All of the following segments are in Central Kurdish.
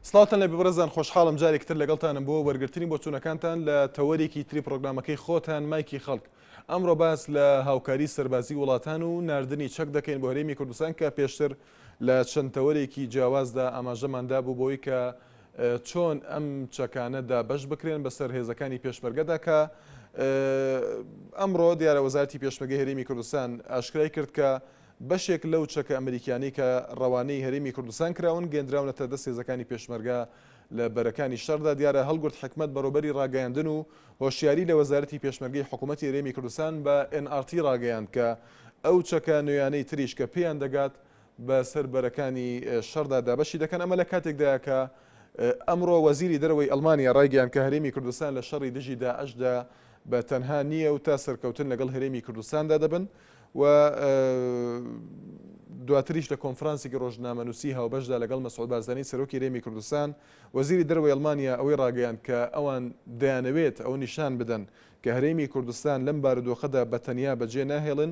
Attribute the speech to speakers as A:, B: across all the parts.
A: سڵاتان لە ببرەزان خۆشحاڵم جارێک تر لەگەڵتانم بۆ وەرگرتنی بۆ چوونەکانتان لە تەوەرێکی تری پرۆگرامەکەی خۆتان مایکی خەڵک ئەمڕۆ باس لە هاوکاری سەربازی وڵاتان و نردنی چەک دەکەین بۆ هەرێمی کوردستان کە پێشتر لە چەند تەوەرێکی جیاوازدا ئاماژەماندا بوو بۆی کە چۆن ئەم چەکانە دابەش بکرێن بەسەر هێزەکانی پێشمەرگەدا کە ئەمڕۆ دیارە وەزارتی پێشمەگە هەرێمی کوردستان ئاشکرای کرد کە بەشێک لەو چەکە ئەمریکانی کە ڕەوانەی هەرێمی کوردستان کراون گەندراونەتە دەست هێزەکانی پێشمەرگە لە بەرەکانی شەردا دیارە هەڵگرت حکمت بەڕۆبەری ڕاگەیاندن و هۆشیاری لە وەزارەتی پێشمەرگەی حکوومەتتی رێمی کوردستان بە NRT ڕاگەیاند کە ئەو چەکە نوێیانەی تریش کە پێیان دەگات بە سەر بەرەکانی شەڕدا دابەشی دەکەن، ئەمە لە کاتێکدایە کە ئەمڕۆ وەزیری دەرەوەی ئەڵمانیا ڕایگەیاند کە هەرێمی کوردستان لە شەڕی دژی داعشدا بە تەنها نییە و تا سەرکەوتن لەگەڵ هەرێمی کوردستاندا دەبن و دواتریش لە کۆنفرانسێکی ڕۆژنامەنووسی هاوبەشدا لەگەڵ مەسعود بارزانی سەرۆکی هەرێمی کوردستان وەزیری دەرەوەی ئەڵمانیا ئەوەی ڕاگەیاند کە ئەوان دەیانەوێت ئەوە نیشان بدەن کە هەرێمی کوردستان لەم بارودۆخەدا بە تەنیا بەجێ ناهێڵن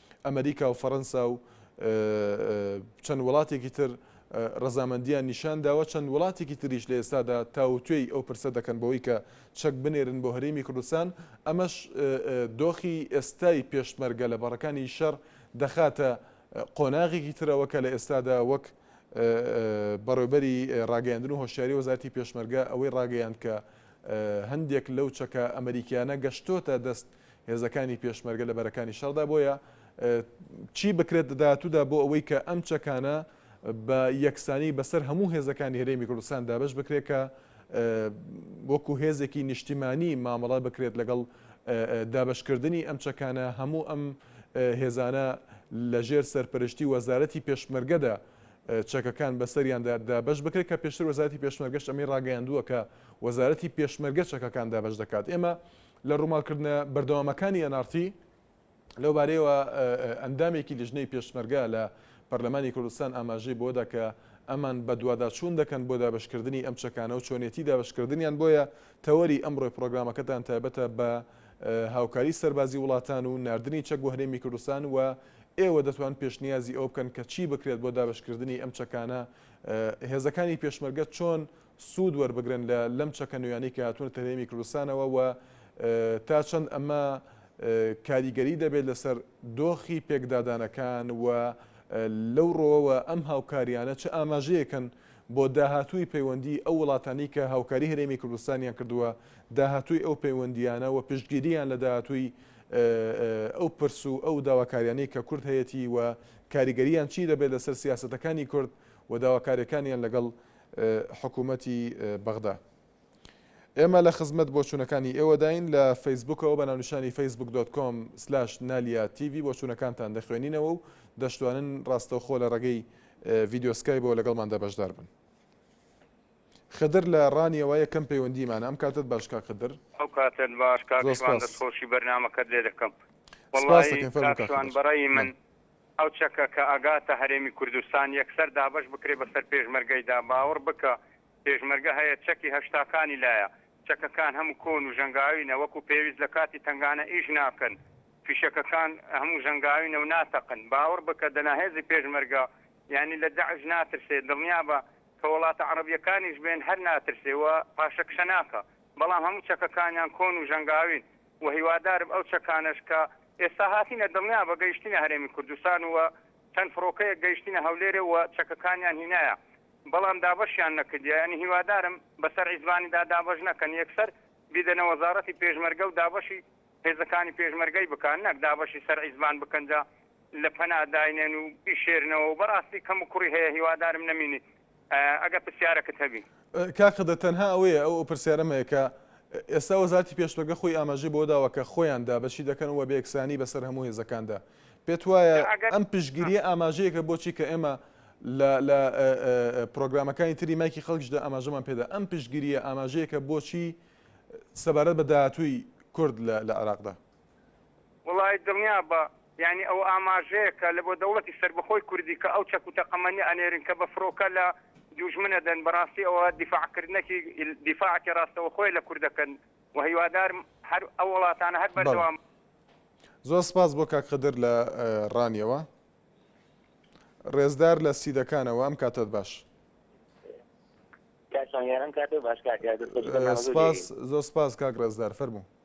A: ئەمەریکا و فەرەنسا و چەند وڵاتێکی تر ڕزامەندیان نیشان داوە چەند وڵاتێکی تریش لە ئێستادا تاوتوێی ئەو پرسە دەکەن بەوەی کە چەک بنێرن بۆ هەرێمی کوردستان ئەمەش دۆخی ئێستای پێشمەرگە لە بەڕەکانی شەر دەخاتە قۆناغێکی ترەوە کە لە ئێستادا وەک بەڕێبەری ڕاگەیاندن و هۆشیاری وەزارتی پێشمەرگە ئەوەی ڕاگەیان کە هەندێک لەو چەکە ئەمریکیانە گەشتۆتە دەست هێزەکانی پێشمەرگە لە بەرەکانی شەڕدا بۆیە چی بکرێت داهاتوودا بۆ ئەوەی کە ئەم چەکانە بە یەکسانی بەسەر هەموو هێزەکانی هەرێمی کوردستان دابش بکرێت کە وەکو هێزێکی نیشتیمانی مامەڵە بکرێت لەگەڵ دابشکردنی ئەم چەکانە هەموو ئەم هێزانە لەژێر سەرپەرشتی وەزارەتی پێشمەرگەدا چەکەکان بەسەریاندا دابش بکرێت کە پێشتر وەزارەتی پێشمەرگەش ئەمەی ڕاگەیاندووە کە وەزارەتی پێشمەرگە چەکەکان دابش دەکات ئێمە لە ڕووماڵکردنە بەردەوامەکانی ئێناڕتی لەوبارەیەوە ئەندامێکی لیژنەی پێشمەرگە لە پەرلەمانی کوردستان ئاماژەی بەوەدا کە ئەمان بەدواداچوون دەکەن بۆ دابەشکردنی ئەم چەکانە و چۆنیەتی دابەشکردنیان بۆیە تەوەری ئەمڕۆی پڕۆگرامەکەتان تایبەتە بە هاوکاری سەربازی وڵاتان و ناردنی چەک بۆ هەرێمی کوردستان و ئێوە دەتوان پێشنیازی ئەوە بکەن کە چی بکرێت بۆ دابەشکردنی ئەم چەکانە هێزەکانی پێشمەرگە چۆن سوود وەربگرن لە لەم چەکە نوێیانەی کە هاتوونەتە هەرێمی کوردستانەوە و تا چەند ئەمە کاریگەری دەبێت لەسەر دۆخی پێکدادانەکان و لەو ڕۆوەوە ئەم هاوکاریانە چ ئاماژەیەکن بۆ داهاتووی پەیوەندی ئەو وڵاتانی کە هاوکاری هەرێمی کوردستانیان کردووە داهاتووی ئەو پەیوەندیانە و پشتگیریان لە داهاتووی ئەو پرس و ئەو داواکاریانەی کە کورد هەیەتی و کاریگەریان چی دەبێت لەسەر سیاستەکانی کورد و داواکاریەکانیان لەگەڵ حکومەتی بەغدا. ئێمە لە خزمەت بۆچوونەکانی ئێوەداین لە فەیسبوکەوە بە ناونیشانی فەیسبوک دۆت کۆم سلاش نالیا تیڤی بۆچوونەکانتان دەخوێنینەوە و دەشتوانن ڕاستەوخۆ لە ڕێگەی ڤیدیۆ سکایبەوە لەگەڵماندا بەشدار بن. خدر لە ڕانیەوە یەکەم پەیوەندیمانە ئەم کاتەت باش کاک خدر. ئەو کاتەت باش
B: کاک زۆر شوان سپاس. دەست خۆشی بەرنامەکەت لێ دەکەم سپاست وەڵایی دەکەین فەرموو کاک کاک شوان خدر بەڕەئی من نعم. ئەو چەکە کە ئەگاتە هەرێمی کوردستان یەکسەر دابەش بکرێ بەسەر پێشمەرگەیدا، باوەڕ بکە پێشمەرگە هەیە چەکی هەشتاکانی لایە، چەکەکان هەموو کۆن و ژەنگاوینە وەکو پێویست لە کاتی تەنگانە ئیش ناکەن، فیشەکەکان هەموو ژەنگاوینە و ناتەقن، باوەڕ بکە دەنا هێزی پێشمەرگە یانی لە داعش ناترسێ، دڵنیابە کە وڵاتە عەڕەبیەکانیش بێن هەر ناترسێ و پاشەکشە ناکا، بەڵام هەموو چەکەکانیان کۆن و ژەنگاوین و هیوادارم ئەو چەکانەش کە ئێستا هاتینە دڵنیابە گەیشتینە هەرێمی کوردستان و چەند فڕۆکەیەک گەیشتینە هەولێرێ و چەکەکانیان هینایە بەڵام دابەشیان نەکردیە یانی هیوادارم بەسەر عیزبانیدا دابەش نەکەن یەکسەر بیدەنە وەزاڕەتی پێشمەرگە و دابەشی هێزەکانی پێشمەرگەی بکەن نەک دابەشی سەر عیزبان بکەن جا لە پەنا داینێن و بیشێرنەوە و بەڕاستی کەموکوڕی هەیە هیوادارم نەمینی ئەگەر پرسیارەکت هەبی. کاک قەدر تەنها
A: ئەوەیە ئەو پرسیارەم هەیە کە ئێستا وەزارەتی پێشمەرگە خۆی ئاماژەی بەوە داوە کە خۆیان دابەشی دەکەن و بێکسانی بەسەر هەموو هێزەکاندا پێت وایە ئەم پشگیریە ئاماژەیەکە بۆچی کە ئێمە لە لە پرۆگرامەکانی تری مایکی خەڵکیشدا ئاماژەمان پێدا ئەم پشگیریە ئاماژەیەکە بۆچی سەبارەت بە داهاتووی کورد لە عێراقدا وەڵایی
B: دڵنیابە یانی ئەوە ئاماژەیە کە لەبۆ دەوڵەتی سەربەخۆی کوردی کە ئەو چەک و تەقەمەنیە ئەنێرن کە بە فرۆکە لە دووژمن ئەدەن بەڕاستی ئەوە دیفاع کردنەکی دیفاعەکی ڕاستەوەخۆیە لە کوردەکەن و هیوادارم هەر ئەو وڵاتانە هەر بەردەوام زۆر
A: سپاس بۆ کاک خدر لە ڕانیەوە ڕێزدار لە سیدەکانەوە ئەم کاتەت باش سپاس زۆر سپاس کاک ڕێزدار فەرموو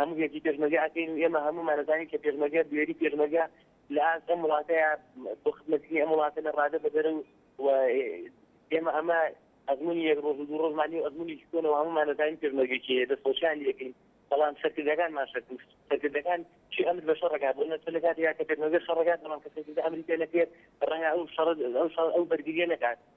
C: هەموو گەرجی پێشمەرگە ئەکەین و ئێمە هەموومان ئەزانین کە پێشمەرگە بوێری پێشمەرگە لە ئاست ئەم وڵاتەیە بۆ خزمەتکردنی ئەم وڵاتە لە ڕادە بەدەرە و و ئێمە ئەمە ئەزموونی یەک ڕۆژ و دوو ڕۆژمان نیە و ئەزموونێکی کۆنەوە هەموومان ئەزانین پێشمەرگە کێیە دەستخۆشیان لێ ئەکەین بەڵام سەرکردەکانمان شەک و سەرکردەکان چی ئەمر بە شەڕ ئەکات بۆ نەتە لە کاتێکا کە پێشمەرگە شەڕ ئەکات بەڵام کە سەرکردە ئەمری پێ نەکرێت ڕەنگە ئەو شەڕ ئەو شەڕ ئەو بەرگرییە نەکات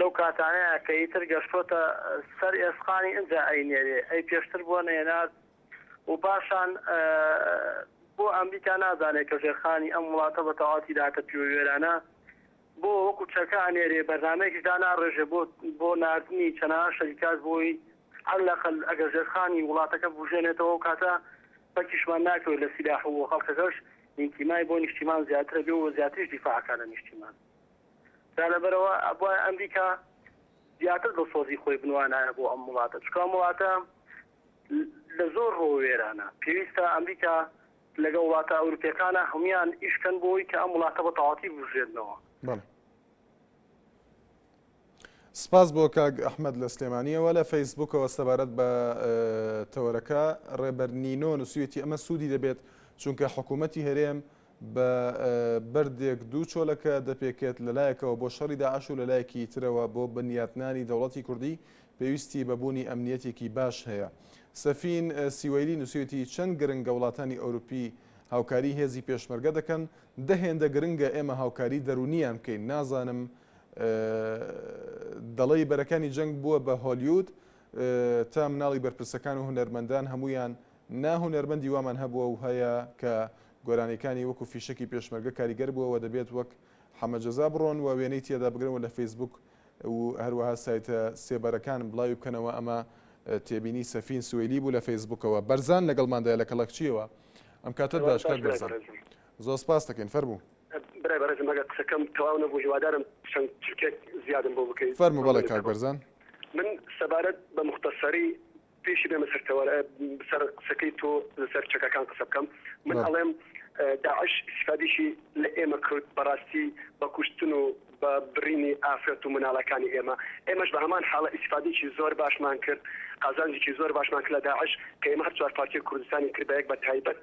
D: لەو کاتانەیە کە ئیتر گەشتۆتە سەر ئێسقانی ئنجا ئەینێرێ ئەی پێشتر بۆ نەینارد و پاشان بۆ ئەمریکا نازانێ کە ژێرخانی ئەم وڵاتە بە تەواتی داتە پیوە وێرانە بۆ وەکو چەکە ئەنێرێ بەرنامەیەکیش داناڕێژێ بۆ بۆ ناردنی چەناها شەریکات بۆی هەر لەقل ئەگەر ژێرخانی وڵاتەکە بوژێنێتەوە کاتە بەکیشمان ناکەوێت لە سیلاح و خەڵکەکەش نیتیمای بۆ نیشتیمان زیاترە بێ و زیاتریش دیفاعکە لە نیشتیمان. دا لەبەرئەوە ئەبوایە ئەمریکا زیاتر دڵسۆزی خۆی بنوانایە بۆ ئەم وڵاتە چونکە ئەم وڵاتە لە زۆر ڕووەوە وێرانە پێویستە ئەمریکا لەگەڵ وڵاتە ئەوروپیەکانە هەموان ئیش کەن بۆی کە ئەم وڵاتە بە تەواتی بوژێنەوە. بەڵێ.
A: سپاس بۆ کاک ئەحمەد لە سلێمانیەوە لە فەیسبوکەوە سەبارەت بە تەوەرەکە ڕێبەر نینۆ نووسویەتی ئەمە سوودی دەبێت چونکە حکوومەتتی هەرێم بە بەردێک دوو چۆلەکە دەپێکێت لەلایەکەوە بۆ شەڕی داعش و لەلایەکی ترەوە بۆ بنیاتنانی دەوڵەتی کوردی پێویستی بەبوونی ئەمنیەتێکی باش هەیە سەفین سیوەیلی نووسێتی چەند گرنگە وڵاتانی ئەوروپی هاوکاری هێزی پێشمەرگە دەکەن دە هێندە گرنگە ئێمە هاوکاری دەرونیان بکەین نازانم و دەڵێی بەرەکانی جەنگ بووە بە هۆلیود تا مناڵی بەرپرسەکان و هونەرمەندان هەموویان نا هونەرمەندی وامان هەبووە و هەیە کە گۆرانیەکانی وەکو فیشەکی پێشمەرگە کاریگەر بووە و دەبێت وەک حەمە جەزا بڕۆن و وێنەی تێدا بگرن و لە فەیسبوک و هەروەها سایتە سێبەرەکان بڵاوی بکەنەوە ئەمە تێبینی سەفین سوەیلی بوو لە فەیسبوکەوە بەرزان لەگەڵماندایە لە کەڵەکچیەوە ئەم کاتە داشکات بەرزان. زۆر سپاستەکەین فەرموو. برای بەڕێزم ئەگەر
E: قسەکەم تەواو نەبوو هیوادارم چەند چرکەیەک زیادم بۆ بکەی فەرموو بەڵێ کاک مەمنونتەبم. بەرزان.
A: من
E: سەبارەت بە موختەسەری پێشی بێمە سەر تەوەر سەر قسەکەی تۆ لەسەر چەکەکان قسە بکەم من بەڵێ. ئەڵێم داعش ئیستیفادەیشی لە ئێمە کرد بەڕاستی بە کوشتن و بە بڕینی ئافرەت و مناڵەکانی ئێمە ئێمەش بە هەمان حاڵە ئیستیفادەیەکی زۆر باشمان کرد قازانجێکی زۆر باشمان کرد لە داعش کە ئێمە هەر چوار پارچەی کوردستانی کرد بە یەک بە تایبەت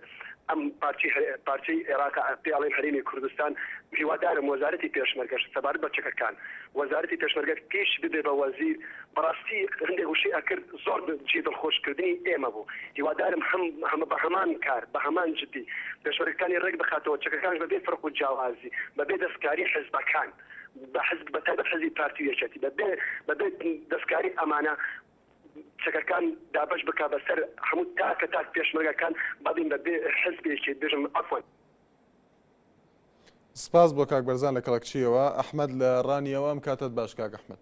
E: ئەم پارچەی پارچەی ئێراق پێی ئەڵێن هەرێمی کوردستان هیوادارم وەزارەتی پێشمەرگەش سەبارەت بە چەکەکان وەزارەتی پێشمەرگە پیش ببێ بە وەزیر بەڕاستی هەندێک وشەی ئەکرد زۆر جێی دڵخۆش کردنی ئێمە بوو هیوادارم هەم هەمە بەهەمان کار بەهەمان جدی دەشوەرەکتانی ڕێک بخاتەوە چەکەکانش بەبێ فەرق و جیاوازی بەبێ دەستکاری حزبەکان بەحزب بەتایبەت حزبی پارتی و یەکێتی بەبێ بەبێ دەستکاری ئەمانە چەکەکان دابەش بکا بەسەر هەموو تاکە تاک پێشمەرگەکان بەبین بەبێ حزبێکی بژم عەفوەن.
A: سپاس بۆ کاک بەرزان لە کەڵەکچییەوە. ئەحمەد لە ڕانیەوە ئەم کاتەت باش کاک ئەحمەد.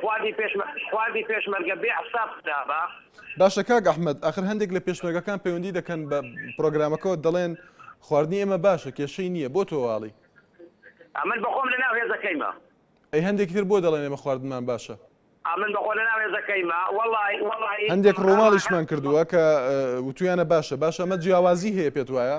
D: خواردی پێش خواردی پێشمەرگە بێ حساب خرابە. باشە کاک
A: ئەحمەد ئەخر هەندێک لە پێشمەرگەکان پەیوەندی دەکەن بە پرۆگرامەکەەوە دەڵێن خواردنی ئێمە باشە کێشەی نییە بۆ تۆواڵی ئەمن
D: بەخۆم لە ناو هێزەکەیمە ئەی هەندێکی
A: تر بۆ دەڵێن ئێمە خواردنمان باشە ئەمن بەخۆ لە ناو
D: هێزەکەیمە وەڵی وەڵی هەندێک ڕۆماڵیشمان
A: کردووە کە وتویانە باشە باشە ئەمە جیاوازی هەیە پێت وایە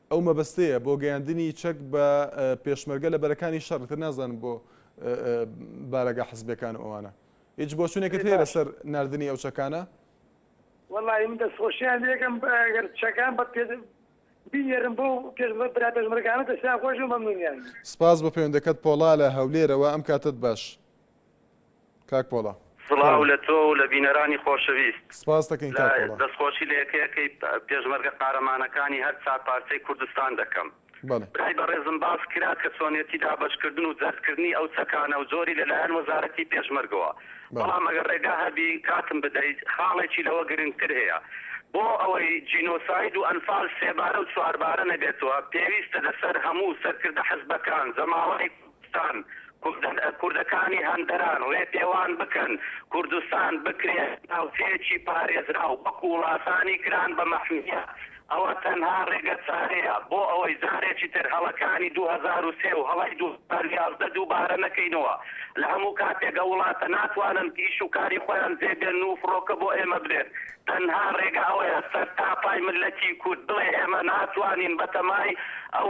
A: ئەو مەبەستەیە بۆ گەیاندنی چەک بە پێشمەرگە لە بەرەکانی شەڕ ئیتر نازانم بۆ بارەگا حزبیەکان و ئەوانە هیچ بۆچونێکت هەیە لەسەر ناردنی ئەو چەکانە؟ وەڵاهی
F: من دەستخۆشیان لێکەم گەر چەکان بە پێ بینێرن بۆ پێشمەرگە برا پێشمەرگانە دەستیان خۆش و مەمنونیان. سپاس بۆ پەیوەندەکەت
A: پۆڵا لە هەولێرەوە ئەم کاتەت باش. کاک پۆڵا. سڵاو لە تۆ
B: و لە بینەرانی خۆشەویست. سپاست دەکەین کاک
A: پۆڵا. دەستخۆشی لە یەکەیەکەی
B: پێشمەرگە قارەمانەکانی هەر چار پارچەی کوردستان دەکەم. برای بەڕێزم باس کرا کە چۆنێتی دابەشکردن و جەرتکردنی ئەو چەکانە و جۆری لە لایەن وەزارەتی پێشمەرگەوە. بەڵام ئەگەر ڕێگا هەبی کاتم بدەی خاڵێکی لەوە گرنگتر هەیە. بۆ ئەوەی جینۆساید و ئەنفال سێبارە و چواربارە نەبێتەوە پێویستە لەسەر هەموو سەرکردە حزبەکان، جەماوەری کورد، ستان کوردەکانی هەندەران ڕێپێوان بکەن کوردستان بکرێ ناوچەیەکی پارێزراو وەکو وڵاتانی گران بە مەحمیە ئەوە تەنها ڕێگە چارەیە بۆ ئەوەی جارێکی تر هەڵەکانی دوو هەزار و سێ و هەڵەی دوو هەزار و یازدە دووبارە نەکەینەوە لە هەموو کاتێک ئەو وڵاتە ناتوانن ئیش و کاری خۆیان جێ بێن و فڕۆکە بۆ ئێمە برێن تەنها ڕێگە ئەوەیە سەرتاپای مللەتی کورد بڵێ ئێمە ناتوانین بەتەمای ئەو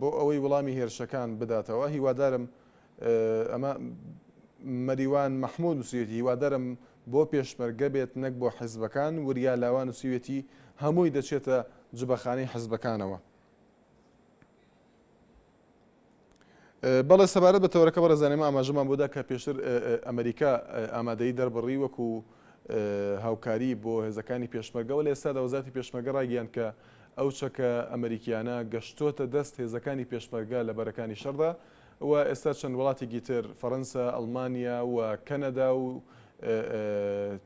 A: بۆ ئەوەی وڵامی هێرشەکان بداتەوە هیوادارم ئەمە مەریوان مەحمود نووسێتی هیوادارم بۆ پێشمەرگە بێت نەک بۆ حزبەکان وریا لاوان نووسیوێتی هەمووی دەچێتە جبەخانەی حزبەکانەوە بەڵێ سەبارەت بە تەوەرەکە بەڕێزان ئێمە ئاماژەمان بۆ دا کە پێشتر ئەمریکا ئامادەیی دەربڕی وەکو هاوکاری بۆ هێزەکانی پێشمەرگەوە لە ئێستادا وەزارەتی پێشمەرگە ڕایگەیاند کە ئەو چەکە ئەمریکیانە گەشتۆتە دەست هێزەکانی پێشمەرگە لە بەرەکانی شەردا و ئێستا چەند وڵاتێکی تر فەرەنسا ئەڵمانیا و کەنەدا و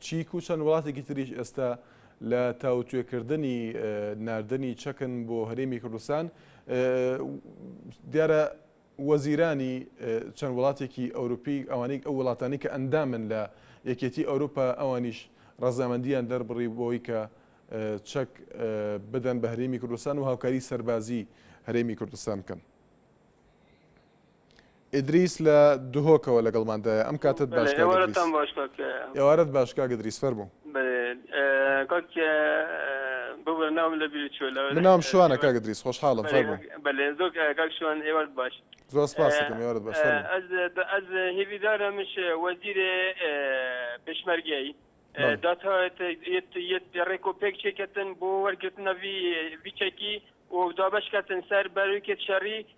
A: چیک و چەند وڵاتێکی تریش ئێستا لە تاوتوێکردنی ناردنی چەکن بۆ هەرێمی کوردستان، دیارە وەزیرانی چەند وڵاتێکی ئەوروپی ئەوانەی ئەو وڵاتانی کە ئەندامن لە یەکێتی ئەوروپا ئەوانیش ڕەزامەندیان دەربڕی بۆی کە چەک بدەن بە هەرێمی کوردستان و هاوکاری سەربازی هەرێمی کوردستان بکەن. ئیدریس لە دهۆکەوە لەگەڵماندایە ئەم کاتەت باش کاک ئیدریس. ئێوارەت باش کاک ئیدریس فەرموو. من ناوم شوانە کاک ئیدریس خۆشحاڵم فەرموو. زۆر سپاست دەکەم
G: ئێوارەت باش فەرموو.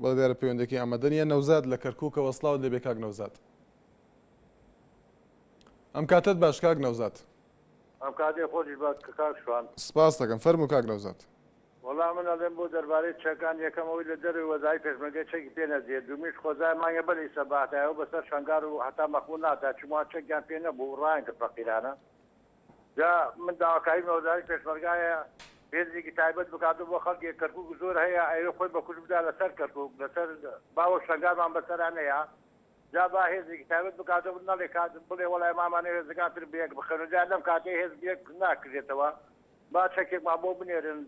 A: بەڵێ دیارە پەیوەندەکی ئامادە نیە نەوزاد لە کەرکووکەوە سلااوت لەبێ کاک نەوزاد ئەم کاتت باش کاک نەوزاد ئەم کاتێ
H: خۆش بە کاک شوان سپاس دەکەم فەرمو
A: کاک نەوزاد وەڵام من
H: ئەڵێم بۆ دەربارەی چەکان یەکەمەوەی لە دەروی وەزای پێشمەگە چەکی پێ نەدرێت دومیش خۆزای مانگە بەری سەباتایەوە بەسەر شنگار و هەتا مەخمور نادا چما چەکیان پێ نەبوو ڕایان کرد فەقیرانە جا من داواکاریم لە وەزارەتی پێشمەرگایە هێزێکی تایبەت بکاتەوە بۆ خەڵکی کەرکوک زۆر هەیە ئەیەوێ خۆی بەکوشت بدا لەسەر کەرکوک لەسەر با وەک شەنگالمان بەسەرا نەیا جا با هێزێکی تایبەت بکاتەوە نەڵێ کات بڵێ وەڵای مامانە هێزەکان تر بەیەک بخەنە جا لەم کاتەی هێز بەیەک ناکرێتەوە با چەکێکمان بۆ بنێرن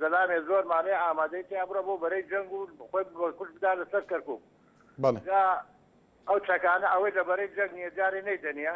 H: زەلامێ زۆرمانەیە ئامادەی تیا بڕە بۆ بەرەی جەنگ و خۆی بەکوشت بدا لەسەر کەرکوک جا ئەو چەکانە ئەوەی لە بەرەی جەنگ نییە جارێ نەیدەنیە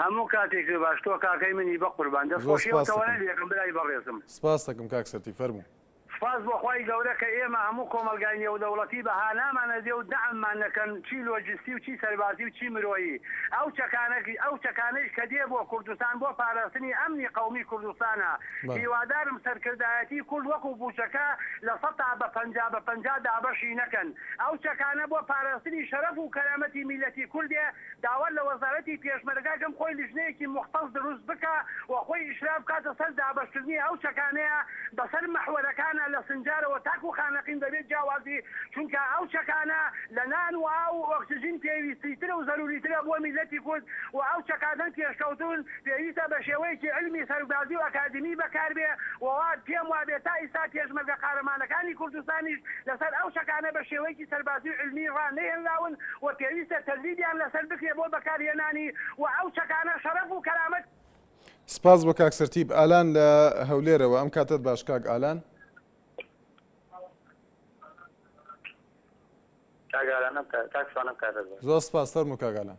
A: هەموو کاتێک
I: بێ باش تۆ کاکەی منی بەقوربان دەست زۆر خۆشی ئەو سپاست تەوەرە دەکەم لێکم برای بەڕێزم. سپاست دەکەم کاک سەتی
A: فەرموو. سپاس بۆ خوای
I: گەورە کە ئێمە هەموو کۆمەڵگای نێودەوڵەتی بە هانامان ئەدێ و دەعممان نەکەن چی لۆجستی و چی سەربازی و چی مرۆیی ئەو چەکانە ئەو چەکانەیش کە دێ بۆ کوردستان بۆ پاراستنی ئەمنی قەومی کوردستانە بەڵێ. هیوادارم سەرکردایەتی کورد وەکو بوچەکە لە سەتا بە پەنجا بە پەنجا دابەشی نەکەن ئەو چەکانە بۆ پاراستنی شەرەف و کەرامەتی میللەتی کوردێ داوا لە وەزارەتی پێشمەرگە کەم خۆی لیژنەیەکی موختەس دروست بکا و خۆی ئیشراف بکاتە سەر دابەش کردنی ئەو چەکانەیا بە سەر مەحوەرەکانا لە سنجارەوە تاکو خانەقین بە بێ جیاوازی چونکا ئەو چەکانە لە نان و ئاو و ئۆکسجین پێویستی ترە و زەروری ترە بۆ میللەتی کورد و ئەو چەکانە پێشکەوتوون پێویستە بە شێوەیەکی عیلمی سەرگدازی و ئەکادیمی بەکاربێ و وا پێم وابێ تا ئیستا پێشمەرگە قارەمانەکانی کوردستانیش لەسەر ئەو چەکانە بە شێوەیەکی سەربازی و عیلمی ڕا نەهێنراون و پێویستە تەدریبیان لەسەر بکرێ بۆ بەکارهێنانی و ئەو چەکانە شەرەف و کەرامەتی سپاس بۆ
A: کاک سەرتیپ ئالان لە هەولێرەوە ئەم کاتەت باش کاک ئالان. زۆر سپاس فەرموو کاک ئالان.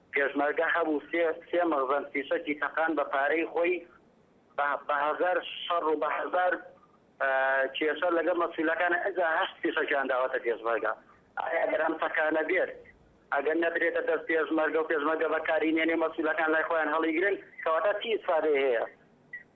J: پێشمەرگە هەبوو سێ سێ مەخزەن فیشەکی تەقان بە پارەی خۆی بە بە هەزار شەڕ و بە هەزار کێشە لەگەڵ مەسولەکانە ئەجا هەشت فیشەکیان داوەتە پێشمەرگە ئایا گەر ئەم تەقانە بێت ئەگەر نەدرێتە دەست پێشمەرگە و پێشمەرگە بەکاری نێنێ مەسولەکان لای خۆیان هەڵیگرن کەواتە چی ئیسفادەی هەیە؟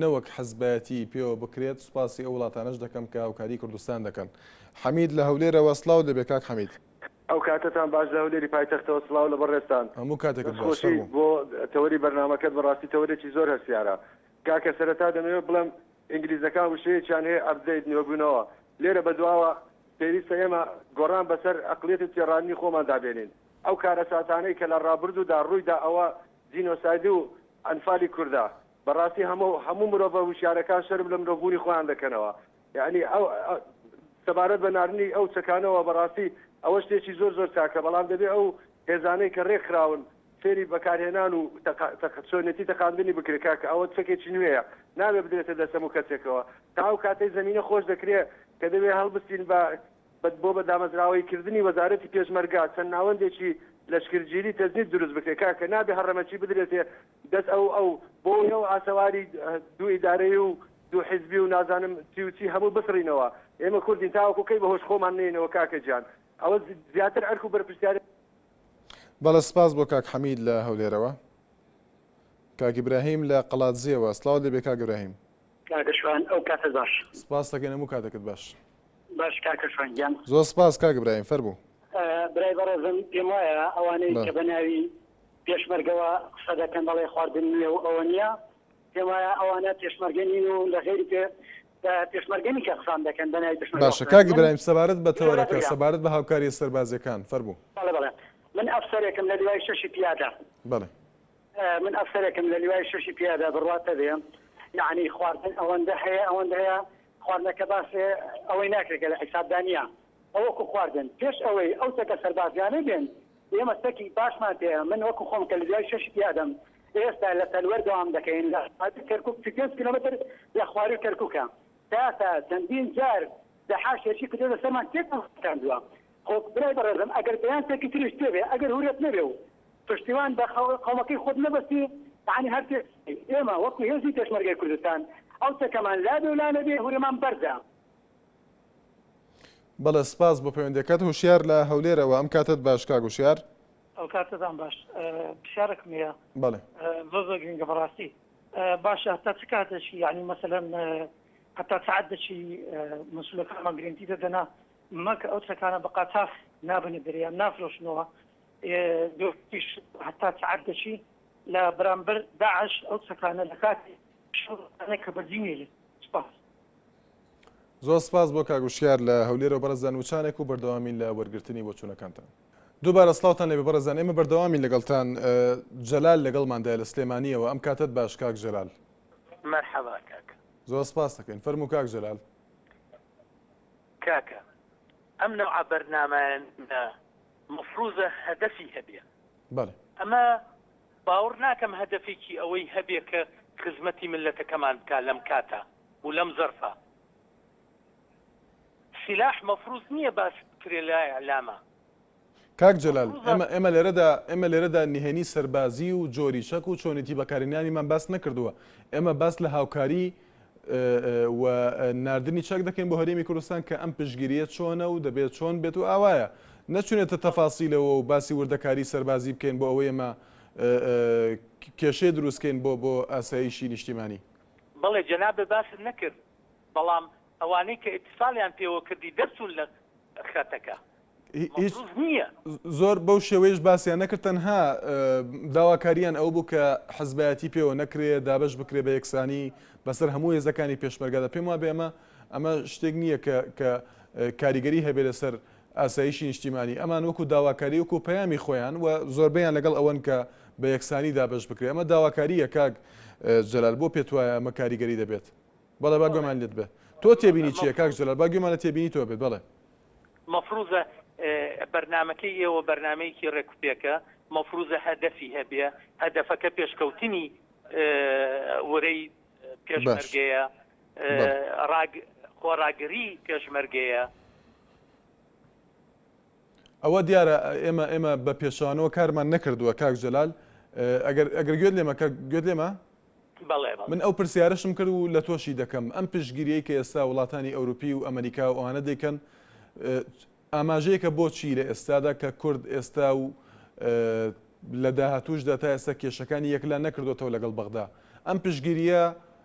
A: نەوەک حزبایەتیی پێوە بکرێت، سوپاسی ئەو وڵاتانەش دەکەم کە هاوکاریی کوردستان دەکەن. حەمید لە هەولێرەوە، سڵاو لێبێ کاک حەمید. ئەو کاتەتان
K: باش لە هەولێری پایتەختەوە سڵاو لە بەڕێزتان. هەموو کاتێکت باش. فەرموو.
A: دەستخۆشی بۆ تەوەری
K: بەرنامەکەت بەڕاستی تەوەرێکی زۆر هەستیارە. کاکە سەرەتا دەمەوێت بڵێم ئینگلیزەکان وشەیەکیان هەیە ئەپدەیت نوێبوونەوە لێرە بەدواوە پێویستە ئێمە گۆڕان بەسەر ئەقڵیەت و تێڕانینی خۆماندا بێنین. ئەو کارەساتانەی کە لە ڕابردوودا ڕوویدا ئەوە جینۆسایدو ئەنفالی کوردە. بەڕاستی هەمۆ هەموو مرۆڤە وشیارەکان شەرم لە مرۆڤ بوونی خۆیان دەکەنەوە یەعنی ئەو ئە سەبارەت بە ناردنی ئەو چەکانەوە بەڕاستی ئەوە شتێکی زۆر زۆر چاکە بەڵام دەبێ ئەو هێزانەی کە رێک خراون فێری بەکارهێنان و تەق تەق چۆنێتی تەقاندنی بکرێ کاکە ئەوە چەکێکی نوێیە نابێ بدرێتە دەست هەموو کەسێکەوە تا ئەو کاتەی زەمینە خۆش دەکرێ کە دەبێ هەڵبستین بە بە بۆ بە دامەزراوەی کردنی وەزارەتی پێشمەرگە چەند ناوەندێکی لەشکرگیری تەجنید دروست بکرێ کاکە نابێ هەڕەمەکی بدرێتێ دەس ئەو ئەو بۆ ئەو ئاسەواری دوو ئیدارەی و دوو حیزبی و نازانم چی و چی هەموو بسڕینەوە ئێمە کوردین تاوەکو کەی بەهۆش خۆمان نەینەوە کاکە گیان ئەوە زیاتر ئەرک و بەرپرسیارێتی
A: بەڵێ سپاس بۆ کاک حەمید لە هەولێرەوە. کاک ئیبراهیم لە قەڵادزێوە، سڵاوت لێبێ کاک ئیبراهیم. کاکە شوان ئەو
L: کاتەت باش. سپاست دەکەین هەموو
A: کاتەکت باش. باش کاکە
L: شوان گیان. زۆر سپاس کاک ئیبراهیم
A: فەرموو. برای بەڕێزم
L: پێم وایە ئەوانەی کە بە ناوی. پێشمەرگەوە قسە دەکەن دەڵێ خواردن نییە و ئەوە نییە پێم وایە ئەوانە پێشمەرگە نین و لە غێری پێ پێشمەرگەنی کە قسان دەکەن بەنای پێشمەرگە باشە قسە کاک دەکەن. من برایم سەبارەت
A: بە لێرە تەوەرەکە بریا سەبارەت بە هاوکارییە سەربازییەکان فەرموو بەڵێ بەڵێ من
L: ئەفسەرێکم لە لیوای شەشی پیادە بەڵێ
A: اه، من
L: ئەفسەرێکم لە لیوای شەشی پیادە بڕوات نەبێ یعنی خواردن ئەوەندە هەیە ئەوەندە هەیە خواردنەکە باسێ ئەوەی ناکرێت کە لە حیسابدا نییە ئەوەکو خواردن پێش ئەوەی ئەو چەکە سەربازیانە بێن ئێمە چەکی باشمان پێیە، من وەکو خۆم کە لەدوای شەشی تیادەم، ئێستا لە سەروەر دەوام دەکەین لە خوارووی کەرکوک سی و پێنج کیلۆمەتر لە خوارووی کەرکوکە تاسا چەندین جار دەحاش هێرشی کردۆتە سەرمان تێکمان شکاندوە خۆ برای بەڕێزم ئەگەر بەیان چەکی تریش تێبێ ئەگەر هورەت نەبێ و پشتیوان بە قەومەکەی خۆت نەبەستی یەعنی هەر تێکچی ئێمە وەکو هێزی پێشمەرگەی کوردستان ئەو چەکەمان لابێ و لانەبێ هورەمان بەرزە
A: بەڵێ سپاس بۆ پەیوەندیەکەت هۆشیار لە هەولێرەوە ئەم کاتەت باش کاک هۆشیار. ئەو کاتەتان
M: باش پرسیارەکم هەیە بەڵێ زۆر
A: زۆر گرنگە
M: بەڕاستی باشە هەتا چ کات دەچی یعنی مەسەلەن هەتا سعات دەچی مەسولەکانمان گرنتی دەدەنا مەکە ئەو چەکانە بە قاچاخ نابنە دەریان نافرۆشنەوە دوش هەتا سعات دەچی لە بەرامبەر داعش ئەو چەکانە لە کاتی شەوانە کە بەجی نێلێت سپاس زۆر
A: سپاس بۆ کاک وشیار لە هەولێرەوە بەڕێزان وچانێک و بەردەوامین لە وەرگرتنی بۆچوونەکانتان دووبارە سڵاوتان لێبێ بەڕێزان ئێمە بەردەوامین لەگەڵتان جەلال لەگەڵماندایە لە سلێمانیەوە ئەم کاتەت باش کاک جەلال مەرحەبا
N: کاک زۆر سپاس دەکەین
A: فەرموو کاک جەلال
N: کاکە ئەم نەوع بەرنامەیان مفروزە هەدەفی هەبێ ئەمە باوەڕ ناکەم هەدەفێکی ئەوەی هەبێ کە خزمەتی ملەتەکەمان بکە لەم کاتە و لەم زەرفە سلاح مەفروز نیە باس بکرێ لە اعلامە. کاک
A: جەلال ئێمە ئێمە لێرەدا ئێمە لێرەدا نهێنی سەربازی و جۆری چەک و چۆنێتی بەکارهێنانیمان باس نەکردووە ئێمە باس لە هاوکاری و نردنی چەک دەکەین بۆ هەرێمی کوردستان کە ئەم پشگیریە چۆنە و دەبێت چۆن بێت و ئاوایە نەچونێتە تەفاسیلەوە و باسی وردەکاری سەربازی بکەین بۆ ئەوەی ئێمە کێشەی دروستکەین بۆ بۆ ئاساییشی نیشتیمانی بەڵێ
N: جەنابت باست نەکرد بەڵام ئەوانەی کە ئیتیصالیان پێوە کردی دەرچوون لە خەتەکە هیچ مەفروز
A: نییە. زۆر بەو شێوەیەش باسیان نەکرد تەنها داواکاریان ئەوە بوو کە حزبایەتی پێوە نەکرێ دابەش بکرێ بە یەکسانی بەسەر هەموو هێزەکانی پێشمەرگەدا پێم وابێ ئەمە ئەمە شتێک نییە کە کە کاریگەری هەبێ لەسەر ئاسایشی نیشتیمانی، ئەمان وەکو داواکاری وەکو پەیامی خۆیان و زۆربەیان لەگەڵ ئەوەن کە بە یەکسانی دابەش بکرێت، ئەمە داواکارییە کاک جەلال بۆ پێت وایە ئەمە کاریگەری دەبێت؟ بەڵێ با گوێمان لێت بێت تۆ تێبینی چییە؟ کاک جەلال با گوێمان لە تێبینی تۆ بێت بەڵێ. مەفروزە
N: بەرنامەکەی ئێوە بەرنامەیەکی ڕێکوپێکە، مەفروزە هەدەفی هەبێ، هەدەفەکە پێشکەوتنی ورەی پێشمەرگەیە،
A: خۆڕاگری پێشمەرگەیە. ئەوە دیارە ئێمە ئێمە بە پێچوانەوە کارمان نەکردووە کاک جەلال ئەگەر ئەگەر گوێت لێمە کە گوێت لێمە من ئەو پرسیارشم کرد و لە تۆشی دەکەم ئەم پشگیری کە ئێستا وڵاتانی ئەوروپی و ئەمریکا و ئەوانە دەیکەن ئاماژەیەکە بۆچی لە ئێستادا کە کورد ئێستا و لە داهاتوشدا تا ئێستا کێشەکانی یەکلا نەکردوێتەوە لەگەڵ بەغدا ئەم پشگیریە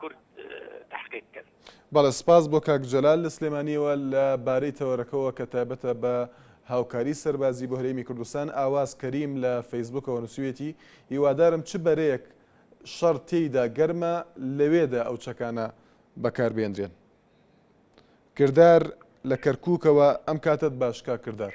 N: کورد تەحقیق بکەن. بەڵێ سپاس بۆ
A: کاک جەلال لە سلێمانیەوە لە بارەی تەوەرەکەوە کە تایبەتە بە هاوکاری سەربازی بۆ هەرێمی کوردستان ئاواز کەریم لە فەیسبوکەوە نووسویەتی هیوادارم چ بەرەیەک شەڕ تێیدا گەرمە لەوێدا ئەو چەکانە بەکاربێنرێن کردار لە کەرکووکەوە ئەم کاتت باش کاک کردار.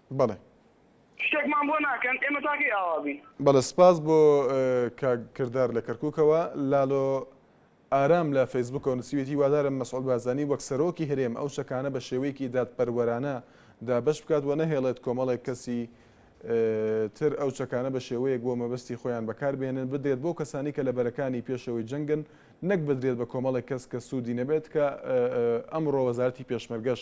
A: بەڵێ.
O: شتێکمان بۆ ناکەن ئێمە تا کەی ئاوا بین. بەڵێ سپاس بۆ
A: کاک کردار لە کەرکوکەوە. لالۆ ئارام لە فەیسبوکەوە نوسیوێتی هیوادارم مەسعود بارزانی وەک سەرۆکی هەرێم ئەو چەکانە بە شێوەیەکی دادپەروەرانە دابەش بکات و نەهێڵێت کۆمەڵێک کەسی تر ئەو چەکانە بە شێوەیەک بۆ مەبەستی خۆیان بەکاربێنن بدرێت بۆ کەسانی کە لە بەرەکانی پێشەوەی جەنگن نەک بدرێت بە کۆمەڵێک کەس کە سوودی نەبێت کە ئەمڕۆ وەزارتی پێشمەرگەش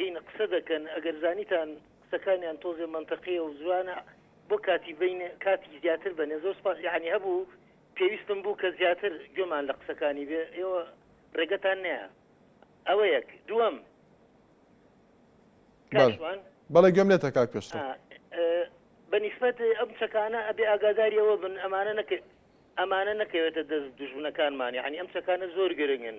P: هین قسە دەکەن ئەگەر زانیتان قسەکانیان تۆزێ مەنتەقیە و جوانە بۆ کاتی بین کاتی زیاتر بەنێ زۆر سپاس یعنی هەبوو پێویستم بوو کە زیاتر گوێمان لە قسەکانی بێ ئێوە ڕێگەتان نەیە ئەوە یەک دووەم
A: کاشوان بەڵێ گوێم لێتە کاک پێشڕەو
P: بەنیسبەت ئەم چەکانە ئەبێ ئاگاداریەوە بن ئەمانە نەکە ئەمانە نەکەوێتە دەست دژمنەکانمان یعنی ئەم چەکانە زۆر گرنگن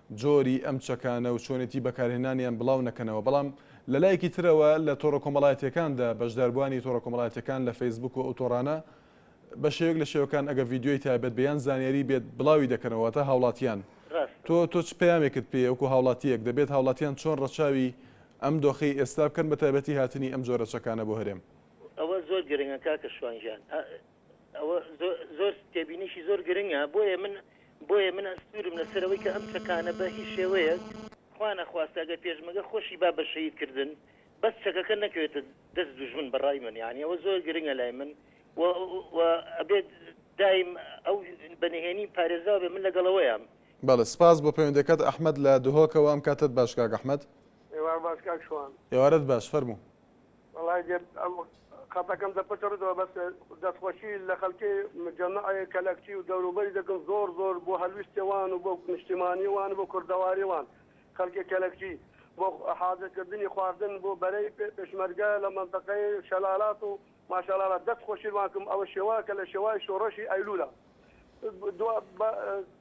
A: جۆری ئەم چەکانە و چۆنێتی بەکارهێنانیان بڵاو نەکەنەوە، بەڵام لە لایەکی ترەوە لە تۆڕە کۆمەڵایەتییەکاندا بەشداربووانی تۆڕە کۆمەڵایەتییەکان لە فەیسبووک و ئەو تۆڕانە بە شێوەیەک لە شێوەکان ئەگەر ڤیدیۆی تایبەت بێ یان زانیاری بێت بڵاوی دەکەنەوە واتە هاوڵاتیان ڕاستە. تۆ تۆ چ پەیامێکت پێیە وەکو هاوڵاتییەک دەبێت هاوڵاتیان چۆن ڕەچاوی ئەم دۆخەی ئێستا بکەن بە تایبەتی هاتنی ئەم جۆرە چەکانە بۆ هەرێم؟ ئەوە زۆر
P: گرنگە کاکە شوان گیان. ئەوە زۆر تێبینیشی زۆر گرنگە بۆیە من بۆیە من ئەستورم لەسەرەوەی کە ئەم چەکانە بە هیچ شێوەیەک خوانەخواستە گە پێشمەگە خۆشی با بە شەید کردن بەس چەکەکە نەکەوێتە دەست دوژمن بەڕای من یعنی ئەوە زۆر گرنگە لای من ئەبێت دایم ئەو بەنهێنی پارێزراو بێ من لەگەڵەوەیان بەڵێ سپاس بۆ
A: پەیوەندەکەت ئەحمد لە دهۆکەوە ئەم کاتەت باش کاک ئەحمد ئێوارەت باش کاک
Q: شوان ئێوارەت باش فەرموو.
A: وەڵای دێ
Q: ئەم خەتەکەم دەپچڕێتەوە بەس دەستخۆشی لە خەڵکی مجەمەعی کەلەکچی و دەوروبەری دەکەم زۆر زۆر بۆ هەلویستی وان و بۆ نیشتیمانی وان و بۆ کوردەواری وان خەڵکی کەلەکچی بۆ حازرکردنی خواردن بۆ بەرەی پێشمەرگە لە مەنتەقەی شەلالات و ماشەڵاڵا دەست خۆشی وان کەم ئەوە شێوە کە لە شێوای شۆڕشی ئەیلولە دوا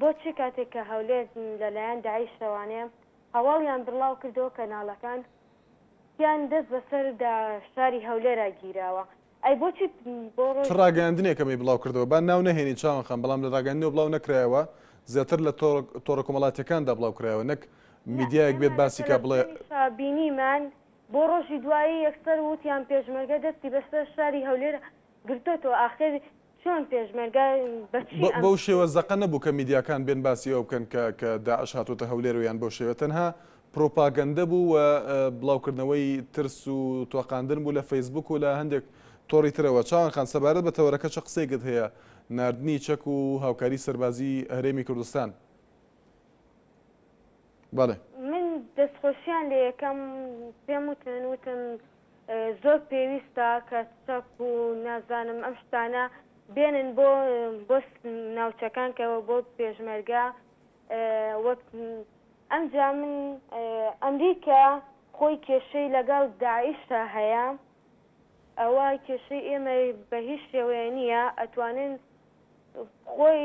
R: بۆچی کاتێک کە هەولێر لە لایەن داعیشەوە نێ هەواڵیان بڕڵاو کردەوە کەناڵەکان تیان دەست بە سەر دا شاری هەولێرا گیراوە ئەی بۆچی بۆ چ ڕۆژ ڕاگەیاندنێکە
A: مەی بڵاو کردەوە با ناو نەهێنی چاوان خان بەڵام لە ڕاگەیاندنەوە بڵاو نەکرایەوە زیاتر لە تۆڕ تۆڕە کۆمەڵاتیەکان دا بڵاو کرایەوە نەک نە میدیایەک ئێمە بێت لە باسی کا بڵێ تەلەفزیۆنیشا بینیمان
R: بۆ ڕۆژی دوایی یەکسەر ووتیان پێشمەرگە دەستی بەسەر شاری هەولێر گرتۆتەوە ئاخر چۆن پێشمەرگە بە چی ئەم بەو
A: شێوە زەقە نەبوو کە میدیاکان بێن باسی ئەوە بکەن کە کە داعش هاتووەتە هەولێر و یان بەو شێوە تەنها پروپاگەندە بوو و بڵاوکردنەوەی ترس و تۆقاندن بوو لە فەیسبووک و لە هەندێک تۆڕی ترەوە چاوان خان سەبارەت بە تەوەرەکە چ قسەیەکت هەیە ناردنی چەک و هاوکاری سەربازی هەرێمی کوردستان بەڵێ. من
R: دەستخۆشیان لێ یەکەم پێم وتن وتم زۆر پێویستە کە چەک و نازانم ئەم شتانە بێنن بۆ بۆ ناوچەکان کە بۆ پێشمەرگە وەک ئەمجا من ئەمریکا خۆی کێشەی لەگەڵ داعشا هەیە ئەوە کێشەی ئێمە بە هیچ شێوەیە نییە ئەتوانن خۆی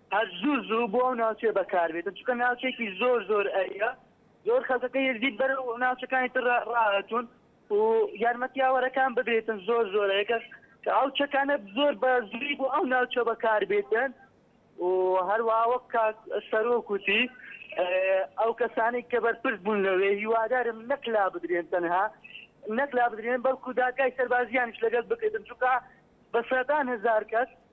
L: هەر زوو زوو بۆ ئەو ناوچەیە بەکار بێتن چونکە ناوچەیەکی زۆر زۆر ئەریا زۆر خەلکەکەی یەزدی بەرەو ناوچەکانی تر راهاتوون و یارمەتیاوەرەکان ببێتن زۆر زۆرە یەکەش کە
S: ئەو چەکانە زۆر بە زووی بۆ ئەو ناوچە بەکار بێتن و هەروەها وەک کاک سەرۆک وتی اه، ئەو کەسانەی کە بەرپرس بوون لەوێ هیوادارم نەک لا بدرێن تەنها نەک لا بدرێن بەڵکو دادگای سەربازیانیش لەگەڵ بکرێتن چونکە بە سەدان هەزار کەس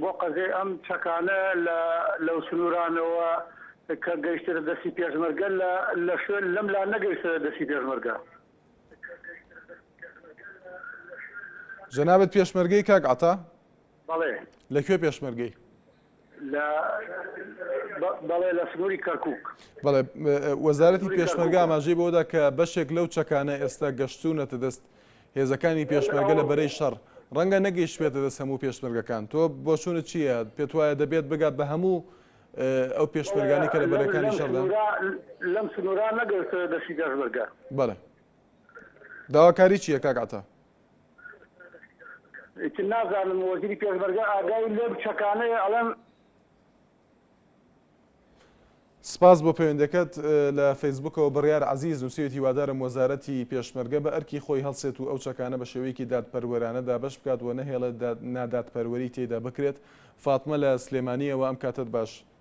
H: بۆ قەزێ ئەم چەکانە لەو سنوورانەوە کە گەیشترە دەستی پێشمەرگە لە شوێن لەم لا نەگەیشترە دەستی پێشمەرگە.
A: جەنابت پێشمەرگەی کاک عەتا؟ بەڵێ.
H: لە کوێ پێشمەرگەی؟
A: لە
H: بەڵێ لە سنووری کەرکووک. بەڵێ.
A: وەزارەتی پێشمەرگە ئاماژەی بەوەدا کە بەشێک لەو چەکانە ئێستا گەشتوونەتە دەست هێزەکانی پێشمەرگە لە بەرەی شەڕ، ڕەنگە نەگەیشتبێتە دەست هەموو پێشمەرگەکان، تۆ بۆچوونت چییە؟ پێت وایە دەبێت بگات بە هەموو ئەو پێشمەرگانەی کە لە بەرەکانی شەڕدان؟ لەم
H: سنوورە نەگەیشتبێتە دەستی پێشمەرگە.
A: بەڵێ. داواکاری چییە کاک عەتا؟ ئیتر
H: نازانم وەزیری
A: پێشمەرگە ئاگای لەم چەکانەیە ئەڵێم. سپاس بۆ پەیوەندەکەت لە فەیسبوکەوە بڕیار عزیز نووسێت هیوادارم وەزارەتی پێشمەرگە بە ئەرکی خۆی هەڵسێت و ئەو چەکانە بە شێوەیەکی دادپەروەرانە دابەش بکات و نەهێڵێت نادادپەروەری تێدا بکرێت فاتمە لە سلێمانیەوە ئەم کاتت باش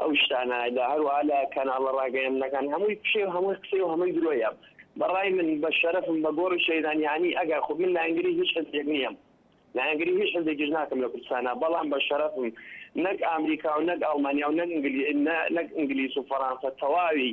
T: ئەو شتانە دا هەروەها لە کەناڵە ڕاگەیەندنەکان هەمووی فشەی و هەمووی قسەی و هەمووی درۆیە بە ڕای من بە شەرەفم بە گۆڕی شەیدان یانی ئەگەر خۆ من لایەنگری هیچ حزبێک نیەم لایەنگری هیچ حزبێکیش ناکەم لە کوردستانا بەڵام بە شەرەفم نەک ئامریکا و نەک ئاڵمانیا و نەک ئینگلی نەک ئینگلیس و فەڕانسە تەواوی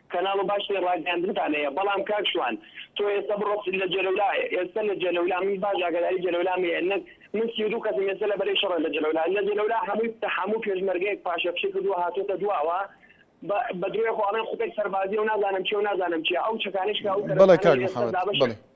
T: کەناڵ باشی ڕاگەیاندنتان هەیە بەڵام کاک شوان تۆ ئێستا بڕۆ لە جەلەولا ئێستا لە جەلەولا من باش ئاگاداری جەلەولام هەیە نەک من سی و دوو کەسم ئێستا لە بەرەی شەڕە لە جەلەولا لە جەلەولا هەمووی هەموو پێشمەرگەیەک پاشەکشەی کردووە هاتۆتە دواوە بە بە درۆیەک و ئەڵێن خوتێک سەربازییە و نازانم چی و نازانم چییە ئەو چەکانەیش کە ئەو بەڵێ کەرەستانەی کاک لەسەر محەمەد
A: دابەشە بەڵێ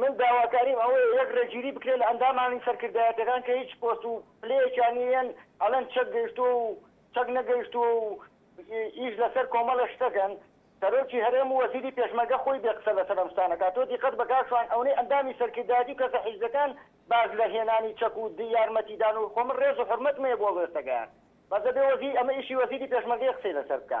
A: من
L: داواکاریم ئەوەیە یەک ڕێگیری بکرێت لە ئەندامانی سەرکردایەتیەکان کە هیچ پۆست و پلەیەکیان نیەن ئەڵێن چەک گەیشتووە و چەک نەگەیشتووە و ئیش لەسەر کۆمەڵێک شتەکەن سەرۆکی هەرێم و وەزیری پێشمەرگە خۆی بێ قسە لەسەر ئەم شتانە کات تۆ دیقەت بە کاک شوان ئەونەی ئەندامی سەرکردایەتی و کەسە حیزبەکان باس لە هێنانی چەک و یارمەتی دان و خۆ من ڕێز و حورمەتم هەیە بۆ ڕێستەگەیان بەس دەبێ وەزیر ئەمە ئیشی وەزیری پێشمەرگەیە قسەی لەسەر بکا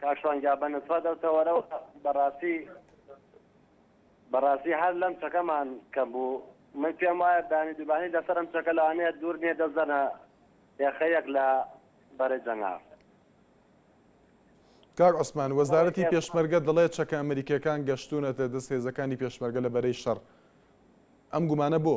C: کاک شوان گیان بە نسبەت ئەو تەوەرەوە بەڕاستی بەڕاستی هەر لەم چەکەمان کەم بوو من پێم وایە دانی دوبانی لەسەر ئەم چەکە لەوانەیە دوور نییە دەزەنە یاخەیەک لە بەرە جەنگا
A: کاک عوسمان وەزارەتی پێشمەرگە دەڵێت چەکە ئەمریکیەکان گەشتونەتە دەست هێزەکانی پێشمەرگە لە بەرەی شەڕ ئەم گومانە بۆ؟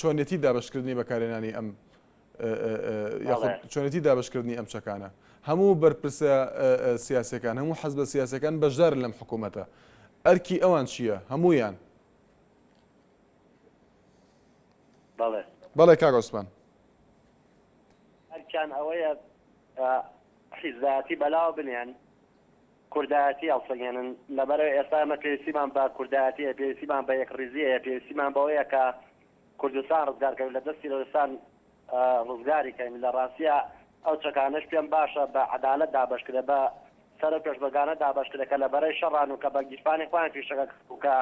A: چۆنێتی دابەشکردنی بەکارهێنانی ئەم یاخود چۆنێتی دابشکردنی ئەم چەکانە هەموو بەرپرسە سیاسەکان هەموو حەز بە سیاسەکان بەشدارن لەم حکوومەتە ئەرکی ئەوان چییە هەمویان بەڵێ بەڵێ کاگۆسمان ئەرکیان ئەوەیە
C: حیزایەتی بەلاوە بنێن کوردایەتی هەڵسەنگێنن لەبەرئەوەی ئێستا ئێمە پێویستیمان بە کوردایەتی هەیە، پێویستیمان بە یەکڕیزی هەیە، پێویستیمان بەوەیە کە کوردستان ڕزگار کەین لە دەست تیرۆرستان ڕزگاری کەین، لە ڕاستیا ئەو چەکانەش پێم باشە بە عەدالەت دابەش کرێ بە سەرو پێشمەرگانە دابەش کرێ کە لە بەرەی شەڕان و کە بە گیرفانی خۆیان فیشەکە کە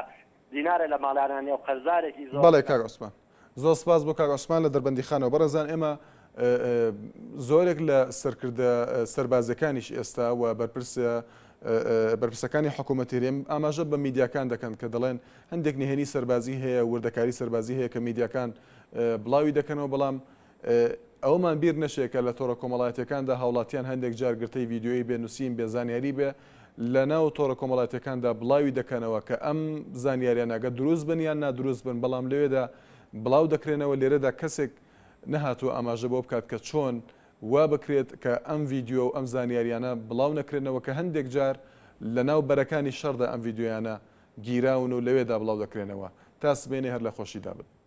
C: دینارە لە ماڵانا نێو قەرزارێکی زۆر بەڵێ کاک عوسمان.
A: زۆر سپاس بۆ کاک عوسمان لە دەربەندیخانەوە بەڕێزان ئێمە زۆرێک لە سەرکردە سەربازیەکانیش ئێستا و بەرپرسە بەرپرسەکانی حکوومەتی هەرێم ئاماژە بە میدیاکان دەکەن کە دەڵێن هەندێک نهێنی سەربازی هەیە وردەکاری سەربازی هەیە کە میدیاکان بڵاوی دەکەنەوە بەڵام ئەوەمان بیر نەچێ کە لە تۆڕە کۆمەڵایەتیەکاندا هاوڵاتیان هەندێک جار گرتەی ڤیدیۆیی بێ نوسین بێ زانیاری بێ لە ناو تۆڕە کۆمەڵاتیەکاندا بڵاوی دەکەنەوە کە ئەم زانیاریانە ئەگەر دروست بن یان نادروست بن بەڵام لەوێدا بڵاو دەکرێنەوە لێرەدا کەسێک نەهاتوە ئاماژە بۆ بکات کە چۆن وا بکرێت کە ئەم ڤیدیۆ و ئەم زانیاریانە بڵاو نەکرێنەوە کە هەندێک جار لە ناو بەرەکانی شەڕدا ئەم ڤیدیۆیانە گیراون و لەوێدا بڵاو دەکرێنەوە تا سبەینێ هەر لە خۆشیدا بن.